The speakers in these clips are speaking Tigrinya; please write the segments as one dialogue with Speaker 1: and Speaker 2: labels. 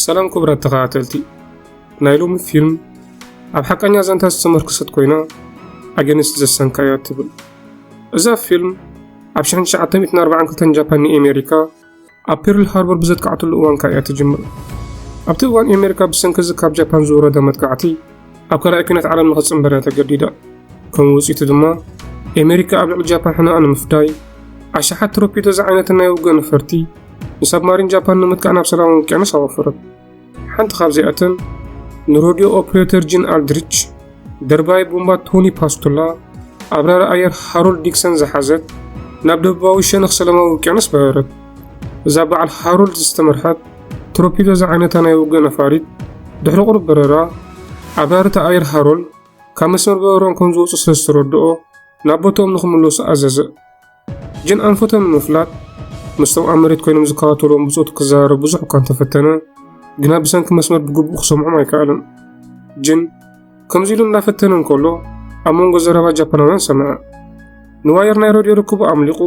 Speaker 1: ሰላም ክቡራት ተኸታተልቲ ናይ ሎሚ ፊልም ኣብ ሓቀኛ ዛንታ ዝተመርክሰት ኮይና ኣገንስት ዘሰንካያ ትብል እዛ ፊልም ኣብ 1942 ጃፓን ንኤሜሪካ ኣብ ፐርል ሃርቦር ብዘጥቃዕትሉ እዋን ከኣ እያ ትጅምር። ኣብቲ እዋን ኣሜሪካ ብሰንኪ እዚ ካብ ጃፓን ዝወረደ መጥቃዕቲ ኣብ ካልኣይ ኲናት ዓለም ንኽትጽንበር እያ ተገዲዳ። ከም ውጽኢቱ ድማ ኣሜሪካ ኣብ ልዕሊ ጃፓን ሕነኣ ንምፍዳይ ኣሽሓት ትሮፒዶ ዝዓይነትን ናይ ውግእ ነፈርቲ ንሳብማሪን ጃፓን ንምጥቃዕ ናብ ሰላማዊ ውቅያኖስ ኣወፈረት። ሓንቲ ካብዚኣተን ንሮድዮ ኦፕሬተር ጂን ኣልድሪች፣ ደርባይ ቦምባ ቶኒ ፓስቱላ፣ ኣብራሪ ኣየር ሃሮልድ ዲክሰን ዝሓዘት ናብ ደቡባዊ ሸነኽ ሰላማዊ ውቅያኖስ በረረት። እዛ በዓል ሃሮልድ ዝተመርሐት ትሮፒዶ ዝዓይነታ ናይ ውግእ ነፋሪት ድሕሪ ቁሩብ በረራ ኣብራርቲ ኣየር ሃሮልድ ካብ መስመር በረሮም ከም ዝወፁ ስለ ዝተረድኦ ናብ ቦትኦም ንክምለሱ ኣዘዘ። ጅን ኣንፈቶም ንምፍላጥ ምስቶም ኣብ መሬት ኮይኖም ዝከታተልዎም ብጾቱ ክዘራረብ ብዙሕ እኳ እንተፈተነ ግና ብሰንኪ መስመር ብግቡእ ክሰምዖም ኣይከኣለን። ጅን ከምዚ ኢሉ እንዳፈተነ እንከሎ ኣብ መንጎ ዘረባ ጃፓናውያን ሰምዐ። ንዋየር ናይ ረድዮ ርክቡ ኣምሊቑ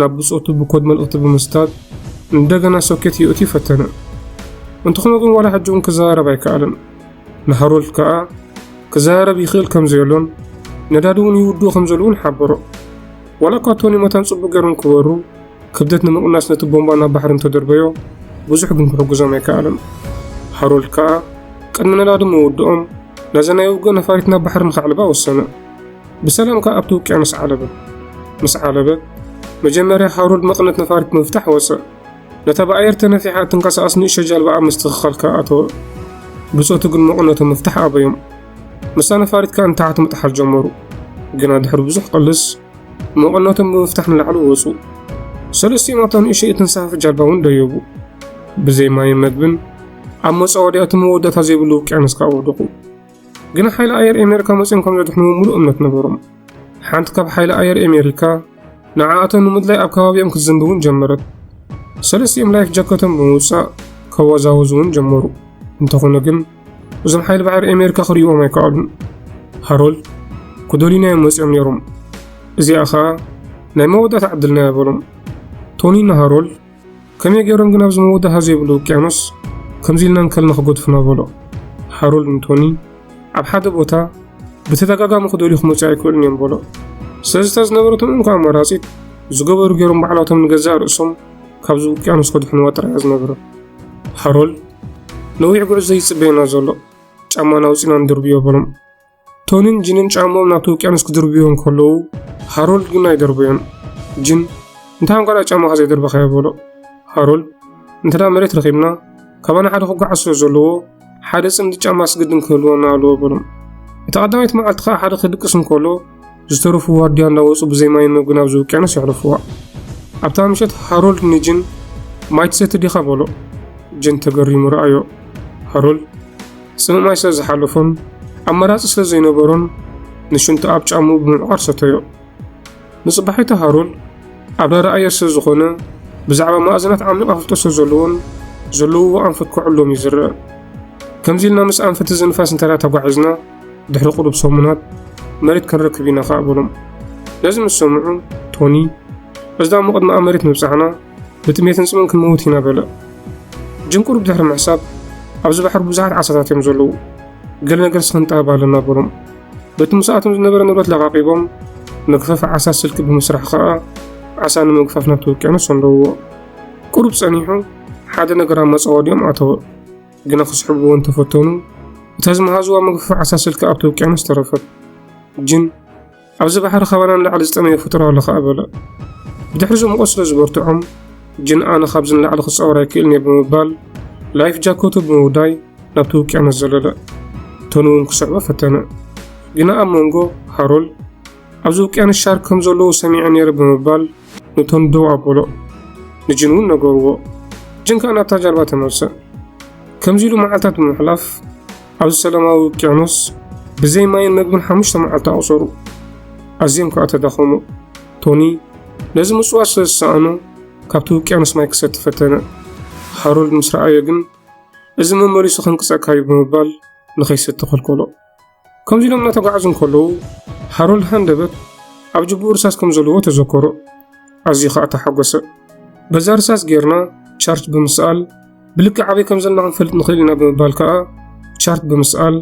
Speaker 1: ናብ ብጾቱ ብኮድ መልእኽቲ ብምስታት እንደገና ሶኬት ይእትዩ ፈተነ። እንተኾነ ግን ዋላ ሕጂ እውን ክዘራረብ ኣይከኣለን። ንሃሮልድ ከኣ ክዘራረብ ይኽእል ከም ዘየሎን ነዳዲ እውን ይውድኡ ከም ዘለዉን ሓበሮ። ዋላ እኳ ቶኒ መታን ጽቡቕ ገይሮም ክበሩ ክብደት ንምቕናስ ነቲ ቦምባ ናብ ባሕሪ እንተደርበዮ ብዙሕ ግን ክሕግዞም ኣይከኣለን። ሃሮልድ ከኣ ቅድሚ ነዳዲ ምውድኦም ነዚ ናይ ውግእ ነፋሪት ናብ ባሕሪ ንኸዕልባ ወሰነ። ብሰላም ከኣ ኣብቲ ውቅያኖስ ዓለበ። ምስ ዓለበ መጀመርያ ሃሮልድ መቕነት ነፋሪት ምፍታሕ ወጸእ። ነታ ብኣየር ተነፊሓ እትንቀሳቐስ ንእሽቶ ጃልባኣ ምስትኽኻል ከኣ ኣተወ። ብጾቱ ግን መቕነቱ ምፍታሕ ኣበዮም። ምስታ ነፋሪት ከኣ ንታሕቲ ምጥሓል ጀመሩ። ግና ድሕሪ ብዙሕ ቕልስ መቐነቶም ብምፍታሕ ንላዕሊ ወጹ። ሰለስቲኦም ኣብታ ንእሸይ እትንሳፈፍ ጃልባ እውን ደየቡ። ብዘይ ማይን መግብን ኣብ መጻወድያ እቲ መወዳእታ ዘይብሉ ውቅያኖስ ከኣ ወደቑ። ግና ሓይሊ ኣየር ኣሜሪካ መጺኦም ከም ዘድሕንዎም ምሉእ እምነት ነበሮም። ሓንቲ ካብ ሓይሊ ኣየር ኣሜሪካ ንዓኣቶም ንምድላይ ኣብ ከባቢኦም ክትዝንቢ እውን ጀመረት። ሰለስቲኦም ላይፍ ጃከቶም ብምውጻእ ከወዛወዙ እውን ጀመሩ። እንተኾነ ግን እዞም ሓይሊ ባሕሪ ኣሜሪካ ክርእዎም ኣይከኣሉን ሃሮልድ ክደልዩናዮም መፂኦም ነይሮም እዚኣ ከዓ ናይ መወዳእታ ዕድልና በሎም ቶኒ ንሃሮልድ ከመይ ገይሮም ግን ኣብዚ መወዳእታ ዘይብሉ ውቅያኖስ ከምዚ ኢልና እንከልና ክገድፉና በሎ ሃሮልድ ንቶኒ ኣብ ሓደ ቦታ ብተደጋጋሚ ክደልዩ ክመፅኡ ኣይክእሉን እዮም በሎ ስለዚ እታ ዝነበረቶም እንኳ ኣማራፂት ዝገበሩ ገይሮም ባዕላቶም ንገዛእ ርእሶም ካብዚ ውቅያኖስ ከድሕንዋ ጥራይ እያ ዝነበረት ሃሮል ነዊሕ ጉዕዞ ይጽበየና ዘሎ ጫማና ኣውጺና ንድርብዮ በሎም ቶኒን ጅንን ጫሞም ናብቲ ውቅያኖስ ክድርብዮ እንከለዉ ሃሮልድ ግን ኣይደርበዮን ጅን እንታይ እንቋዳ ጫማኻ ዘይደርበኻዮ በሎ ሃሮልድ እንተ መሬት ረኺብና ካባና ሓደ ክጓዓዝ ስለ ዘለዎ ሓደ ጽምዲ ጫማስ ግድን ክህልወና ኣለዎ በሎም። እታ ቀዳመይቲ መዓልቲ ከኣ ሓደ ክድቅስ እንከሎ ዝተረፉ ዋርድያ እናወጹ ብዘይ ማይን መግብን ኣብዚ ውቅያኖስ የሕለፍዋ። ኣብታ ምሸት ሃሮልድ ንጅን ማይ ትሰቲ ዲኻ በሎ። ጅን ተገሪሙ ረኣዮ። ሃሮልድ ጽምእ ማይ ስለ ዝሓለፎን ኣማራጺ ስለ ዘይነበሮን ንሽንቱ ኣብ ጫምኡ ብምዕቛር ሰተዮ። ንጽባሒቱ ሃሩል ኣብ ናይ ረኣየ ስለ ዝኾነ ብዛዕባ መኣዝናት ዓሚቕ ኣፍልጦ ስለ ዘለዎን ዘለውዎ ኣንፈት ክዕሎም እዩ ዝረአ። ከምዚ ኢልና ምስ ኣንፈት እዚ ንፋስ እንተ ተጓዒዝና ድሕሪ ቁሩብ ሰሙናት መሬት ክንረክብ ኢና ከኣ በሎም። ነዚ ምስ ሰምዑ ቶኒ እዛ እሞ ቅድሚ ኣብ መሬት ምብጻሕና ብጥሜትን ጽምን ክንመውት ኢና በለ። ጅም ቁሩብ ድሕሪ ምሕሳብ ኣብዚ ባሕሪ ብዙሓት ዓሳታት እዮም ዘለዉ ገለ ነገርሲ ክንጠበብ ኣለና በሎም። በቲ ምስኣቶም ዝነበረ ንብረት ለቓቒቦም፣ መግፈፊ ዓሳ ስልኪ ብምስራሕ ከኣ ዓሳ ንምግፋፍ ናብቲ ውቅያኖስ ሰንደውዎ። ቁሩብ ጸኒሑ ሓደ ነገር ኣብ መጻወዲኦም ኣተወ። ግና ክስሕብዎ እንተፈተኑ እታ ዝመሃዝዋ መግፈፊ ዓሳ ስልኪ ኣብቲ ውቅያኖስ ተረፈት። ጅን ኣብዚ ባሕሪ ካባና ንላዕሊ ዝጠመየ ፍጡር ኣሎ ከኣ በለ። ብድሕሪዚ ሙቐት ስለ ዝበርትዖም ጅን ኣነ ካብዚ ንላዕሊ ክጻወር ኣይክእልን እየ ብምባል ላይፍ ጃኮቱ ብምውዳይ ናብቲ ውቅያኖስ ዘለለ ቶኒ እውን ክስዕቦ ፈተነ ግና ኣብ መንጎ ሃሮል ኣብዚ ውቅያኖስ ሻርክ ከም ዘለዉ ሰሚዐ ነይረ ብምባል ንቶኒ ደው ኣበሎ ንጅን እውን ነገርዎ ጅን ከዓ ናብታ ጃልባ ተመልሰ ከምዚ ኢሉ መዓልታት ብምሕላፍ ኣብዚ ሰላማዊ ውቅያኖስ ብዘይ ማይን መግብን ሓሙሽተ መዓልቲ ኣቑሰሩ ኣዝዮም ከዓ ተዳኸሙ ቶኒ ነዚ ምጽዋት ስለ ዝሰኣኑ ካብቲ ውቅያኖስ ማይ ክሰቲ ፈተነ ሃሮልድ ምስ ረኣዮ ግን እዚ መመሊሱ ከንቅጸካ እዩ ብምባል ንኸይሰቲ ከልከሎ ከምዚ ኢሎም እናተጓዓዙ እንከለዉ ሃሮልድ ሃንደበት ኣብ ጅብኡ ርሳስ ከም ዘለዎ ተዘከሮ ኣዝዩ ከዓ ተሓጎሰ በዛ ርሳስ ጌርና ቻርች ብምስኣል ብልክዕ ኣበይ ከም ዘላ ክንፈልጥ ንኽእል ኢና ብምባል ከኣ ቻርት ብምስኣል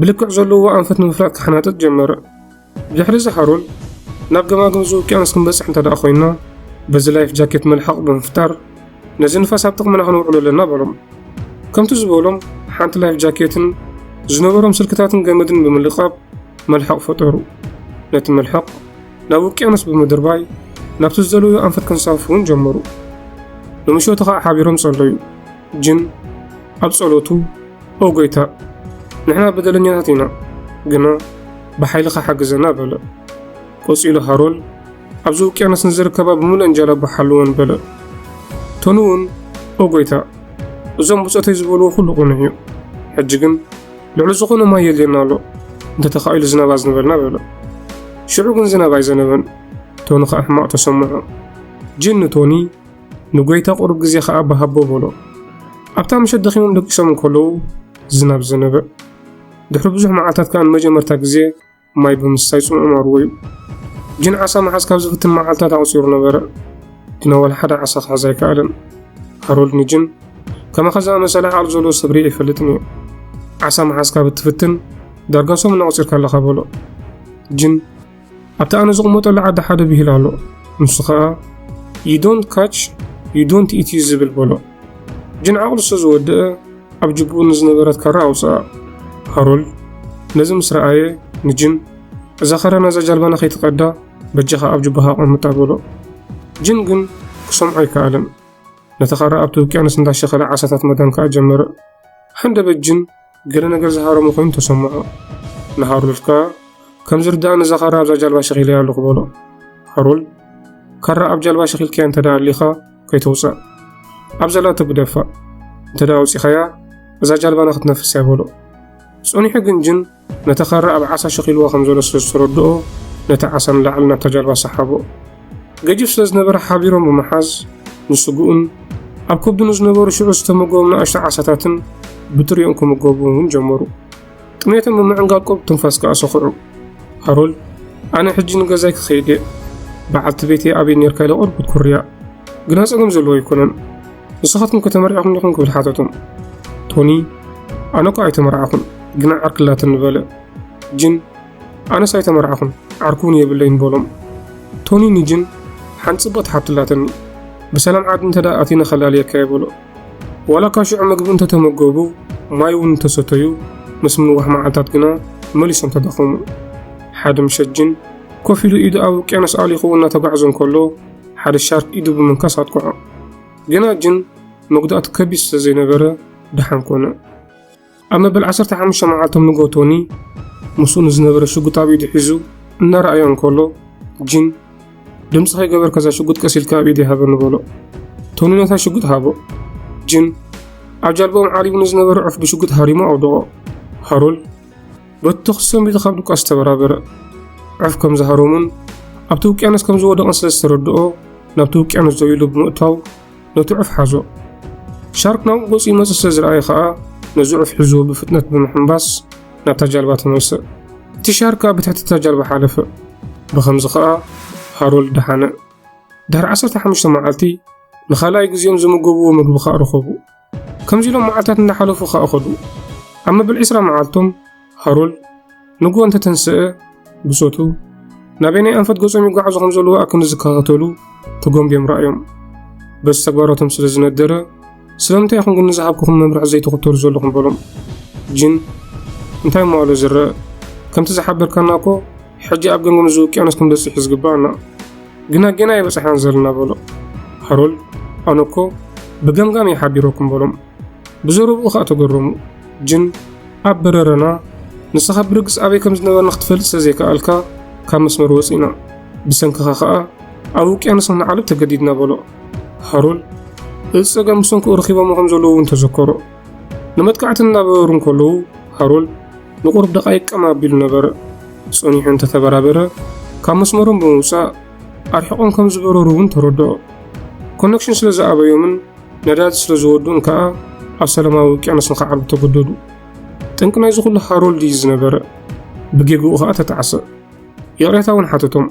Speaker 1: ብልክዕ ዘለዎ ኣንፈት ንምፍላጥ ክሓናጥጥ ጀመረ። ብድሕሪ እዚ ሃሮል ናብ ገማግም እዚ ውቅያኖስ ክንበጽሕ እንተ ደኣ ኮይንና በዚ ላይፍ ጃኬት መልሓቕ ብምፍጣር ነዚ ንፋስ ኣብ ጥቕምና ክንውዕሎ ኣለና በሎም። ከምቲ ዝበሎም ሓንቲ ላይፍ ጃኬትን ዝነበሮም ስልክታትን ገመድን ብምልቃብ መልሓቕ ፈጠሩ። ነቲ መልሓቕ ናብ ውቅያኖስ ብምድርባይ ናብቲ ዝደለዩ ኣንፈት ክንሳፉ እውን ጀመሩ። ንምሸቱ ከዓ ሓቢሮም ጸለዩ። ጅን ኣብ ጸሎቱ ኦ ጎይታ ንሕና በደለኛታት ኢና፣ ግና ብሓይልኻ ሓግዘና በለ። ቆጺሉ ሃሮል ኣብዚ ውቅያኖስ ንዝርከባ ብምሉእን ጃላቡ ሓልወን በለ። ቶኑ እውን ኦ ጎይታ እዞም ብጾተይ ዝበልዎ ኩሉ ቅኑዕ እዩ፣ ሕጂ ግን ልዕሊ ዝኾነ ማይ የድልየና ኣሎ እንተተኻኢሉ ዝናብ ኣዝንበልና በሎ ሽዑ ግን ዝናብ ኣይዘነበን ቶኒ ከዓ ሕማቕ ተሰምዖ ጂን ንቶኒ ንጎይታ ቁሩብ ግዜ ከዓ ብሃቦ በሎ ኣብታ ምሸት ደኺሞም ደቂሶም እንከለዉ ዝናብ ዘነበ ድሕሪ ብዙሕ መዓልታት ከዓ ንመጀመርታ ግዜ ማይ ብምስታይ ጽምኦም ኣርወዩ። ግን ዓሳ ምሓዝ ካብ ዝፍትን መዓልታት ኣቑጺሩ ነበረ። ግና ዋላ ሓደ ዓሳ ክሕዝ ኣይከኣለን። ሃሮልድ ንጅን ከማኻ ዝኣመሰለ ዓቕሊ ዘለዎ ሰብ ርኢ ኣይፈልጥን እዩ። ዓሳ ምሓዝ ካብ እትፍትን ዳርጋ ሰሙን ኣቑጺርካ ኣለኻ በሎ። ጅን ኣብቲ ኣነ ዝቕመጠሉ ዓዲ ሓደ ብሂል ኣሎ። ንሱ ኸኣ ዩ ዶንት ካች ዩ ዶንት ኢት እዩ ዝብል በሎ። ጅን ዓቕሉ ስለ ዝወድአ ኣብ ጅብኡ ንዝነበረት ካራ ኣውጽኣ። ካሮል ነዚ ምስ ረኣየ ንጅን እዛ ካራ ናዛ ጃልባና ከይትቀዳ በጃኻ ኣብ ጅባኻ ኣቐምጣ በሎ። ጅን ግን ክሰምዖ ኣይከኣለን። ነቲ ካራ ኣብቲ ውቅያኖስ እንዳሸኸለ ዓሳታት መዳን ከኣ ጀመረ። ሃንደበት ጅን ገለ ነገር ዝሃረሞ ኮይኑ ተሰምዖ። ንሃሮልድ ከኣ ከም ዝርድኣኒ እዛ ካራ ኣብዛ ጃልባ ሸኺለያ ኣለኹ በሎ። ሃሮልድ ካራ ኣብ ጃልባ ሸኺልካያ እንተ ደኣ ኣሊኻ ከይተውጽእ ኣብ ዘላቶ ግደፋ እንተ ደኣ ኣውጺኻያ እዛ ጃልባና ክትነፍስ እያ በሎ። ጸኒሑ ግን ጅን ነታ ካራ ኣብ ዓሳ ሸኺልዋ ከም ዘሎ ስለ ዝተረድኦ ነቲ ዓሳ ንላዕሊ ናብታ ጃልባ ሰሓቦ። ገጅፍ ስለ ዝነበረ ሓቢሮም ብምሓዝ ንስግኡን ኣብ ከብዱ ንዝነበሩ ሽዑ ዝተመገቦም ንኣሽቱ ዓሳታትን ብጥሪኦም ክምገቡ እውን ጀመሩ። ጥሜቶም ብምዕንጋል ቁሩብ ትንፋስ ከኣ ሰኹዑ። ሃሮልድ ኣነ ሕጂ ንገዛይ ክኸይድ እየ በዓልቲ ቤተይ ኣበይ ኔርካ ኢለ ቁሩብ ክትኩርያ ግና ጸገም ዘለዎ ኣይኮነን ንስኻትኩም ከተመርዕኹም ዲኹም ክብል ሓተቶም ቶኒ ኣነ እኳ ኣይተመርዓኹን ግና ዓርክላትን ንበለ ጅን ኣነስ ኣይተመርዓኹን ዓርኩ እውን የብለይን በሎም። ቶኒ ንጂን ሓንቲ ጽብቕቲ ሓብቲ ኣላትኒ፣ ብሰላም ዓዲ እንተ ኣቲነ ከላልየካ እየ በሎ። ዋላ እኳ ሽዑ ምግቢ እንተ ተመገቡ ማይ እውን እንተ ሰተዩ፣ ምስ ምንዋሕ መዓልታት ግና መሊሶም ተዳኸሙ። ሓደ ምሸት ጂን ኮፍ ኢሉ ኢዱ ኣብ ውቅያኖስ ኣሊኹ እናተጓዕዘ እንከሎ ሓደ ሻርክ ኢዱ ብምንካስ ኣጥቅዖ። ግና ጂን መጉዳእቱ ከቢድ ስለ ዘይነበረ ደሓን ኮነ። ኣብ መበል ዓሰርተ ሓሙሽተ መዓልቶም ንግሆ ቶኒ ምስኡ ንዝነበረ ሽጉጥ ኣብ ኢዱ ሒዙ እናረኣዮ እንከሎ ጂን ድምፂ ከይገበርካ እዛ ሽጉጥ ቀስ ኢልካ ኣብ ኢደይ ሃበኒ በሎ ቶኒ ነታ ሽጉጥ ሃቦ ጂን ኣብ ጃልባኦም ዓሪቡ ንዝነበረ ዑፍ ብሽጉጥ ሃሪሞ ኣውደቖ ሃሮል በቲ ተኽሲ ሰንቢዱ ካብ ድቋስ ተበራበረ ዑፍ ከም ዝሃሮሙን ኣብቲ ውቅያኖስ ከም ዝወደቐን ስለ ዝተረድኦ ናብቲ ውቅያኖስ ደው ኢሉ ብምእታው ነቲ ዑፍ ሓዞ። ሻርክ ናብኡ ገጹ ይመጽእ ስለ ዝረኣየ ከኣ ነዚ ዑፍ ሒዝዎ ብፍጥነት ብምሕንባስ ናብታ ጃልባ ተመልሰ። እቲ ሻርክ ኣብ ብትሕቲ እታ ጃልባ ሓለፈ። ብኸምዚ ከኣ ሃሮልድ ደሓነ። ድሕሪ 15 መዓልቲ ንኻልኣይ ግዜኦም ዝምገብዎ ምግቢ ከኣ ረኸቡ። ከምዚ ኢሎም መዓልታት እናሓለፉ ኸኣ ኸዱ። ኣብ መበል ዕስራ መዓልቶም ሃሮልድ ንግሆ እንተ ተንስአ ብጾቱ ናበይ ናይ ኣንፈት ገጾም ይጓዓዙ ከም ዘለዉ ኣክን ዝከታተሉ ተጎምብዮም ረኣዮም። በዚ ተግባራቶም ስለ ዝነደረ ስለምንታይ ኢኹም ግን ንዝሃብኩኹም መምርሒ ዘይትኽተሉ ዘለኹም በሎም። ጅን እንታይ እሞ ኣሎ ዝረአ ከምቲ ዝሓበርካና እኮ ሕጂ ኣብ ገንጎ ንዚ ውቅያኖስ ክንበጽሕ እዩ ዝግባኣና ግና ጌና ኣይበጻሕናን ዘለና በሎ ሃሮልድ ኣነ እኮ ብገምጋም እየ ሓቢረኩም በሎም ብዘረብኡ ከኣ ተገረሙ ጅን ኣብ በረረና ንስኻ ብርግጽ ኣበይ ከም ዝነበርና ክትፈልጥ ስለ ዘይከኣልካ ካብ መስመር ወጺእና ብሰንክኻ ከኣ ኣብ ውቅያኖስ ንዓልብ ተገዲድና በሎ ሃሮል እዚ ጸገም ብሰንክኡ ረኺቦሞ ከም ዘለዉ እውን ተዘከሮ ንመጥቃዕቲ እናበረሩ እንከለዉ ሃሮል ንቑሩብ ደቓይቕ ቀም ኣቢሉ ነበረ። ጸኒሑ እንተ ተበራበረ፣ ካብ መስመሮም ብምውጻእ ኣርሒቖም ከም ዝበረሩ እውን ተረድኦ። ኮነክሽን ስለ ዝኣበዮምን ነዳዲ ስለ ዝወድኡን ከኣ ኣብ ሰላማዊ ውቅያኖስ ንኽዓርቡ ተገደዱ። ጠንቂ ናይዚ ኹሉ ሃሮልድ እዩ ዝነበረ። ብጌግኡ ኸኣ ተጣዕሰ። ይቕሬታ እውን ሓተቶም።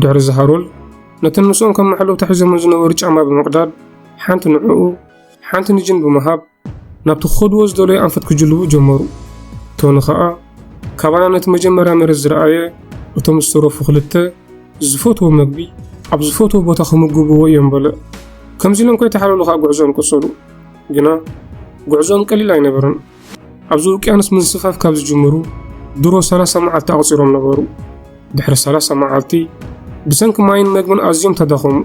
Speaker 1: ድሕሪ እዚ ሃሮልድ ነተን ምስኦም ከም መሐለውታ ሒዞመን ዝነበሩ ጫማ ብምቕዳድ ሓንቲ ንዕኡ ሓንቲ ንጅን ብምሃብ ናብቲ ክኸድዎ ዝደለዩ ኣንፈት ክጅልቡ ጀመሩ። ቶኒ ኸኣ ካባና ነቲ መጀመርያ መሬት ዝረኣየ እቶም ዝተረፉ ክልተ ዝፈትዎ መግቢ ኣብ ዝፈትዎ ቦታ ክምግብዎ እዮም በለ። ከምዚ ኢሎም ከይተሓለሉ ኸኣ ጉዕዞኦም ቀጸሉ። ግና ጉዕዞኦም ቀሊል ኣይነበረን። ኣብዚ ውቅያኖስ ምንስፋፍ ካብ ዝጅምሩ ድሮ ሰላሳ መዓልቲ ኣቑጺሮም ነበሩ። ድሕሪ ሰላሳ መዓልቲ ብሰንኪ ማይን መግብን ኣዝዮም ተዳኸሙ።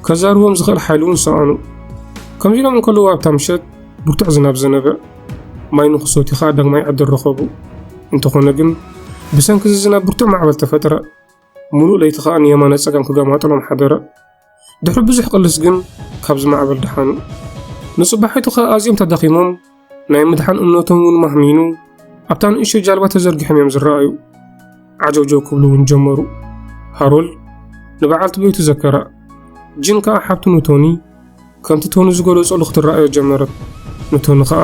Speaker 1: ከዛርቦም ዝኽእል ሓይሊ እውን ሰኣኑ። ከምዚ ኢሎም እንከለዉ ኣብታ ምሸት ብርቱዕ ዝናብ ዘነበ። ማይ ንክሰትዩ ከኣ ዳግማይ ዕድል ረኸቡ። እንተኾነ ግን ብሰንኪ እዚ ዝናብ ብርቱዕ ማዕበል ተፈጥረ። ምሉእ ለይቲ ከኣ ንየማነ ጸጋም ክገማጥሎም ሓደረ። ድሕሪ ብዙሕ ቅልስ ግን ካብዚ ማዕበል ደሓኑ ንጽባሒቱ ኸ ኣዝዮም ተዳኺሞም ናይ ምድሓን እምነቶም እውን ማህሚኑ ኣብታ ንእሾ ጃልባ ተዘርጊሖም እዮም ዝረኣዩ ዓጀውጀው ክብሉ እውን ጀመሩ ሃሮል ንበዓልቲ ቤቱ ዘከራ ጅን ከዓ ሓብቱ ንቶኒ ከምቲ ቶኒ ዝገለጸሉ ክትረኣዮ ጀመረት። ንቶኒ ከኣ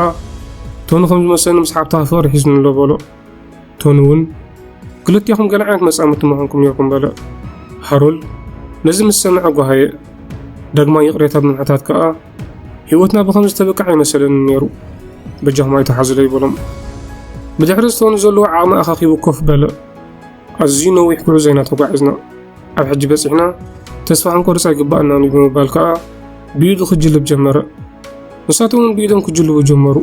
Speaker 1: ቶኒ ከም ዝመሰለኒ ምስ ሓብትኻ ፍቕሪ ሒዝኒ ኣሎ በሎ። ቶኒ እውን ክልቴኹም ገለ ዓይነት መጻምድቲ ምኾንኩም ኔርኩም በለ። ሃሮልድ ነዚ ምስ ሰምዐ ጓሃየ። ዳግማይ ይቕሬታ ብምሕታት ከኣ ህይወትና ብኸምዚ ተብቅዕ ኣይመሰለንን ኔሩ። በጃኹም ኣይትሓዙለይ በሎም። ብድሕሪ ቶኒ ዘለዎ ዓቕሚ ኣኻኺቡ ኮፍ በለ። ኣዝዩ ነዊሕ ጉዕዞ ኢና ተጓዒዝና። ኣብ ሕጂ በጺሕና ተስፋ ክንቆርጽ ኣይግባኣናን እዩ ብምባል ከኣ ብኢዱ ክጅልብ ጀመረ። ንሳቶም እውን ብኢዶም ክጅልቡ ጀመሩ።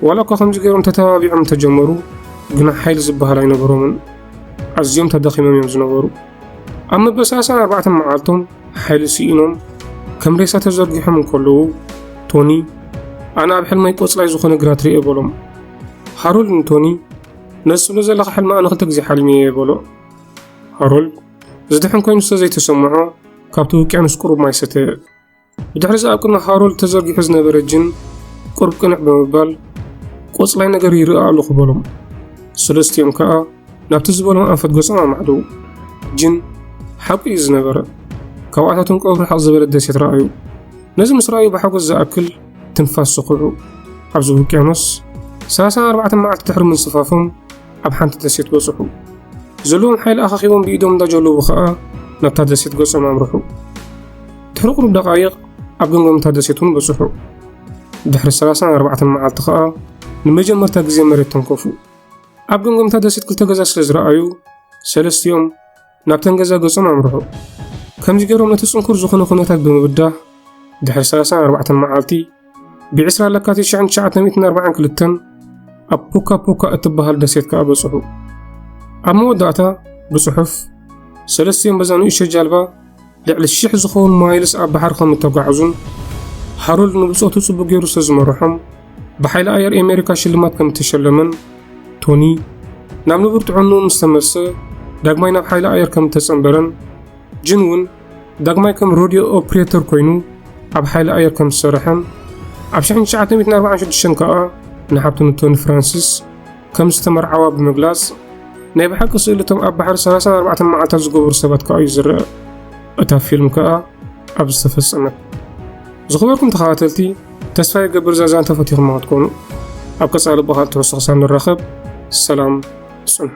Speaker 1: ዋላ እኳ ከምዚ ገይሮም ተተባቢዖም እንተጀመሩ ግና ሓይሊ ዝበሃል ኣይነበሮምን። ኣዝዮም ተዳኺሞም እዮም ዝነበሩ። ኣብ መበሳሰን ኣርባዕተ መዓልቶም ሓይሊ ስኢኖም ከም ሬሳ ተዘርጊሖም እንከለዉ ቶኒ ኣነ ኣብ ሕልመይ ቆጽላይ ዝኾነ ግራት ርኤ በሎም። ሃሮልድ ንቶኒ ነዚ ስለ ዘለኻ ሕልሚ ኣነ ክልተ ግዜ ሓልሚ እየ በሎ። ሃሮልድ እዚ ድሕን ኮይኑ ስለ ዘይተሰምዖ ካብቲ ውቅያኖስ ቁሩብ ማይ ሰተ ብድሕሪ እዚ ኣብ ቅድሚ ሃሮልድ ተዘርጊሑ ዝነበረ ጅን ቁርብ ቅንዕ ብምባል ቆፅላይ ነገር ይርኣ ኣለኹ በሎም ሰለስቲኦም ከዓ ናብቲ ዝበሎም ኣንፈት ገጾም ኣማዕደው ጅን ሓቁ እዩ ዝነበረ ካብኣታቶም ቀብሪ ሓቕ ዝበለ ደሴት ረኣዩ ነዚ ምስ ረኣዩ ብሓጎስ ዝኣክል ትንፋስ ስኹዑ ኣብዚ ውቅያኖስ 34 መዓልቲ ድሕሪ ምንጽፋፎም ኣብ ሓንቲ ደሴት በጽሑ። ዘለዎም ሓይሊ ኣኻኺቦም ብኢዶም እንዳጀለቡ ከኣ ናብታ ደሴት ገጾም ኣምርሑ። ድሕሪ ቁሩብ ደቓይቕ ኣብ ገምገም እታ ደሴት እውን በጽሑ። ድሕሪ ሰላሳን ኣርባዕተን መዓልቲ ከኣ ንመጀመርታ ግዜ መሬት ተንከፉ። ኣብ ገምገም እታ ደሴት ክልተ ገዛ ስለ ዝረኣዩ ሰለስቲኦም ናብተን ገዛ ገጾም ኣምርሑ። ከምዚ ገይሮም ነቲ ጽንኩር ዝኾነ ኩነታት ብምብዳህ ድሕሪ 34 መዓልቲ ብ20 ለካቲት 1942 ኣብ ፑካ ፑካ እትበሃል ደሴት ከኣ በጽሑ። ኣብ መወዳእታ ብጽሑፍ ሰለስቲኦም በዛ ንእሽቶ ጃልባ ልዕሊ ሽሕ ዝኸውን ማይልስ ኣብ ባሕሪ ከም እተጓዕዙን ሃሮልድ ንብጾቱ ጽቡቕ ገይሩ ስለ ዝመርሖም ብሓይሊ ኣየር ኣሜሪካ ሽልማት ከም እተሸለመን ቶኒ ናብ ንቡር ጥዕንኡ ምስ ተመልሰ ዳግማይ ናብ ሓይሊ ኣየር ከም እተጸንበረን ጅን እውን ዳግማይ ከም ሮድዮ ኦፕሬተር ኮይኑ ኣብ ሓይሊ ኣየር ከም ዝሰርሐን ኣብ 1946 ከኣ ንሓብቱ ንቶኒ ፍራንሲስ ከም ዝተመርዓዋ ብምግላጽ፣ ናይ ብሓቂ ስእሊ እቶም ኣብ ባሕሪ ሰላሳን ኣርባዕተን መዓልታት ዝገበሩ ሰባት ከኣ እዩ ዝርኣ። እታ ፊልም ከኣ ኣብዚ ተፈጸመት። ዝኽበርኩም ተኸታተልቲ፣ ተስፋ ይገብር እዛ ዛንታ ፈቲኹማ ክትኮኑ። ኣብ ቀጻሊ ብኻልእ ትሕዝቶ ክሳብ ንራኸብ ሰላም ጽንሑ።